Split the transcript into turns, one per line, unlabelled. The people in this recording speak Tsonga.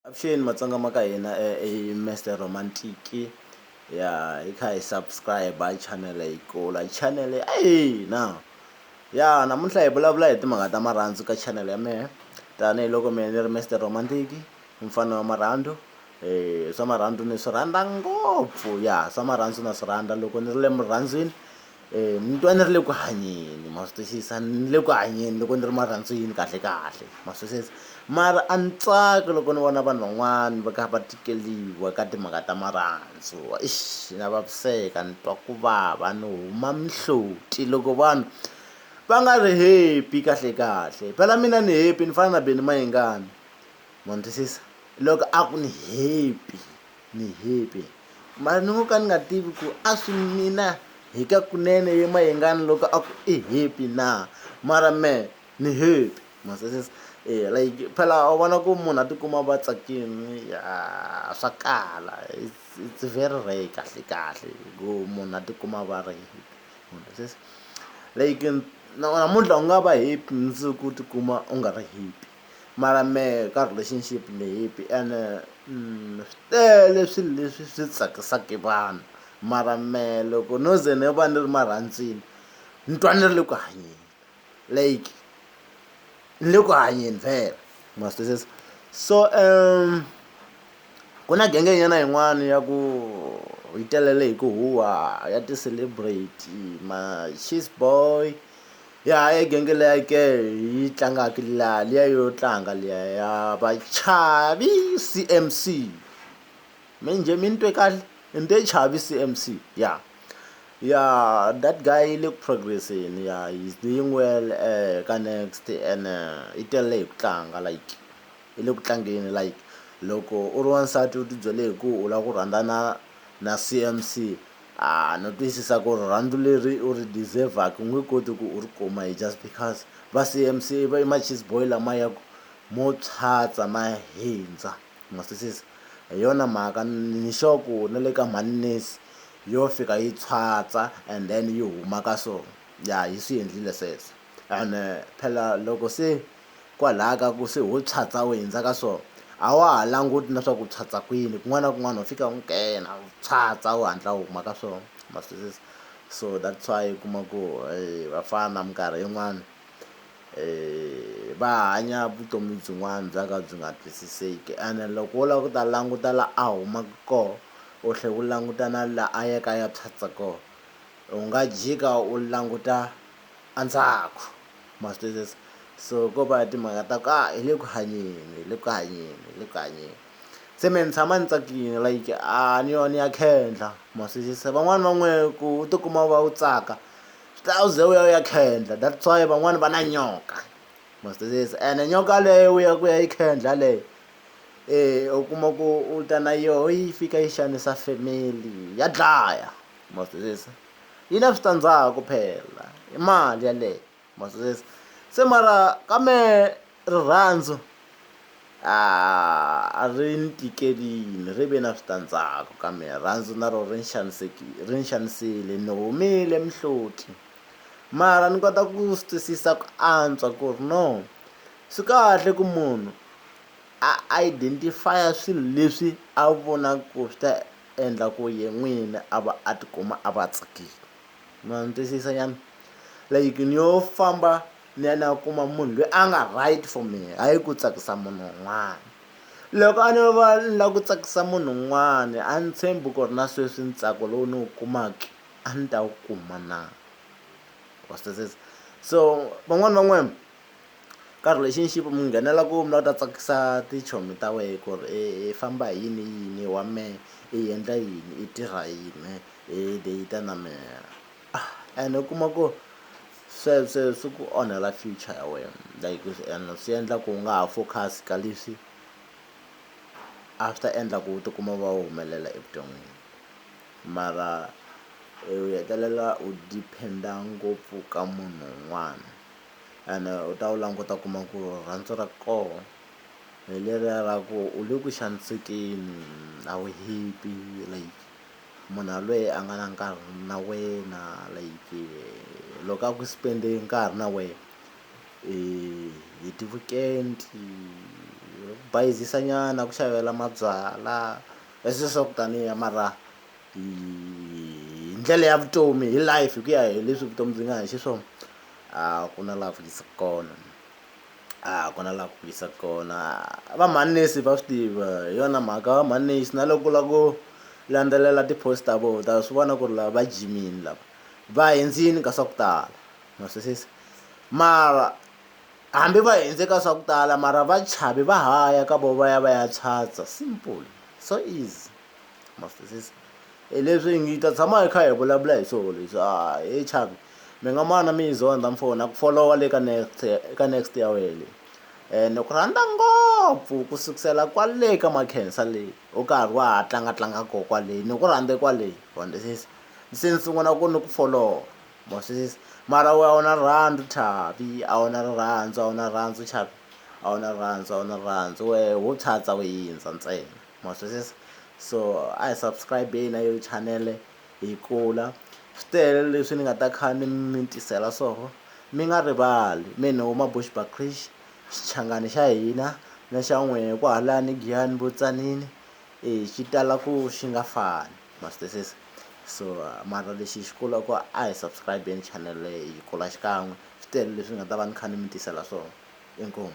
Avuxeni matsonga ma ka hina i Mister Romantic ya hi kha hi subscribe hi channel yi kula hi channel ya hina ya namuntlha hi vulavula hi timhaka ta marhandzu ka channel ya mehe tanihiloko mehe ni ri Mister Romantic mfana wa marhandzu um swa marhandzu ni swi rhandza ngopfu ya swa marhandzu na swi rhandza loko ni ri le murhandzwini ni twa ni ri le ku hanyeni ma swi twisisa ni le ku hanyeni loko ni ri marhandzwini kahle kahle ma swi twisisa mara a ni tsaki loko ni vona vanhu van'wani va kha va tikeliwa ka timhaka ta marhandzu ixi na vaviseka ni twa ku vava ni huma mihloti loko vanhu va nga ri happy kahle kahle phela mina ni happy ni fana na Benny Mayengani ma ni twisisa loko a ku ni happy. Ni hippy. Mara ni ngo ka ni nga tivi ku a swi mina hi ka kunene ye mayengani loko a ku i hippy na mara me ni hippy maseses e eh, like phela u vona ku munhu a tikuma va tsakini swa kala it's very rare kahle kahle ku munhu a tikuma va ri like namuntlha u nga va happy mundzuku u tikuma u nga ri happy Mara mehe ka relationship ni happy ene swi tele swilo leswi swi tsakisaka vanhu mara mehe loko no ze ni va ni ri marhandzwini ni twa ni ri le ku hanyeni like ni le ku hanyeni vhele ma swi twisisa so ku na genge nyana yin'wani ya ku yi telele hi ku huhwa ya ti-celebrity ma-cheese boy Ya ha yi genge liya ke hi yi tlangaka la liya yo tlanga liya ya vachavi C_M_C mi njhe mi ni twe kahle ni te chavi C_M_C ya ya that guy i le ku progress-eni ya he is doing well ka next ene i tele hi ku tlanga like i le ku tlangeni like loko u ri wansati u tibyele hi ku u lava ku rhandzana na C_M_C A no twisisa ku rirhandzu leri u ri deserve-aka u nge koti ku u ri kuma hi just because va CMC va i ma-cheese boy lama ya ku mo phyapya ma hindza. Ma swi twisisa? Hi yona mhaka ni sure ku na le ka mhani Nesi yo fika yi phyapya and then yi huma ka so ya yi swi endlile sweswo ene phela loko se Kwalaha ka ku se ho phyapya u hindza ka so a wa ha languti na swa ku u phyapya kwini kun'wana na kun'wana ho fika u nghena u phyapya u hatla u huma ka so ma swi twisisa so that's why u kuma ku vafana minkarhi yin'wani va hanya vutomi byin'wana bya ka byi nga twisiseki ene loko wo lava ku ta languta la a humaka koho u tlhe u languta na la a yaka a ya phyapya koho u nga jika u languta. endzhaku ma swi twisisa so ko va timhaka ta ku a hi le ku hanyeni hi le ku hanyeni hi le ku hanyeni se me ni tshama ni tsakile like a ni yo ni ya khendla ma swi twisisa van'wani va n'we ku u tikuma u va u tsaka swi ta u ze u ya u ya khendla that's why van'wani va na nyoka ma swi twisisa ene nyoka leyo u ya ku ya yi khendla leyo e u kuma ku u ta na yoho yi fika yi xanisa family ya dlaya ma swi twisisa. yi na switandzhaku phela i mali yeleyo ma swi twisisa se mara ka mehe rirhandzu a a ri ni tikelini ri ve na switandzhaku ka mina rirhandzu na rona ri ni xanisekile ri ni xanisile ni humile mihloti mara ni kota ku swi twisisa ku antswa ku ri no swi kahle ku munhu a identify-a swilo leswi a vonaka ku swi ta endla ku ye n'wini a va a tikuma a va tsakile. Ma ni twisisa nyana? Like ni yo famba ni ya ni ya kuma munhu lweyi a nga right for mehe hayi ku tsakisa munhu un'wana. Loko a no va ni la ku tsakisa munhu un'wani a ni tshembi ku ri na sweswi ntsako lowu ni wu kumaki a ni ta wu kuma na. Wa swi twisisa? So van'wani va n'wina. Karhi lexi ni xi mi nghenela ku mi la ku ta tsakisa tichomi ta wehe ku ri i famba hi yini yini wa mehe i endla yini i tirha yini i date na mehe ene u kuma ku swe swe swi ku onhela future ya wena like ene swi endla ku u nga ha focus ka leswi a swi ta endla ku u tikuma u va u humelela evuton'wini mara u hetelela u depend-a ngopfu ka munhu un'wana. ene u ta wu languta u kuma ku rirhandzu ra koho hi leriya ra ku u le ku xanisekeni a wu happy like munhu yalweye a nga na nkarhi na wena like loko a ku spend-e nkarhi na wehe hi ti-weekend bayizisa nyana ku xavela mabyalwa i swi swa ku taniya mara hi ndlela ya vutomi hi life hi ku ya hi leswi vutomi byi nga ha xiswona. a ku na laha ku fikisa kona a ku na laha ku fikisa kona va manese va swi tiva hi yona mhaka va manese na loko la ku landzelela ti-post ta vona ta swi vona ku ri lava va jimini lava va hindzini ka swa ku tala ma swisisa mara hambi va hindze ka swa ku tala mara va chavi va ha ya ka vona va ya va ya chatsa simple so easy. ma swi twisisa hi leswi hi ngi hi ta tshama hi kha hi vulavula hi swona leswi a he chavi mi nga mana mi yi zondha mfo na ku folowa le ka next ka next ya wehe leyi ene ku rhandza ngopfu ku sukusela kwale ka makhensa leyi u karhi wa ha tlanga tlanga ko kwaleyi ni ku rhandze kwaleyi wa ni twisisa se ni sungula ku ni ku folowa ma swi twisisa mara we a wu na rirhandzu chavi a wu na rirhandzu a wu na rirhandzu chavi a wu na rirhandzu a wu na rirhandzu wehe wo tshatsa we yindza ntsena. ma twisisa so a hi subscribe-eni na yo chanele hi kula swi tele leswi ni nga ta kha ni mi tisela swoho mi nga rivali mi ni huma bushback cresh xichangani xa hina na xa n'wehe ku halani giyani vutsanini e xi tala ku xi nga fani ma swi twisisa so mara lexi hi xi kula ku a hi subscribe-eni chanele hi kula xikan'we swi tele leswi ni nga ta va ni kha ni mi tisela swona inkomu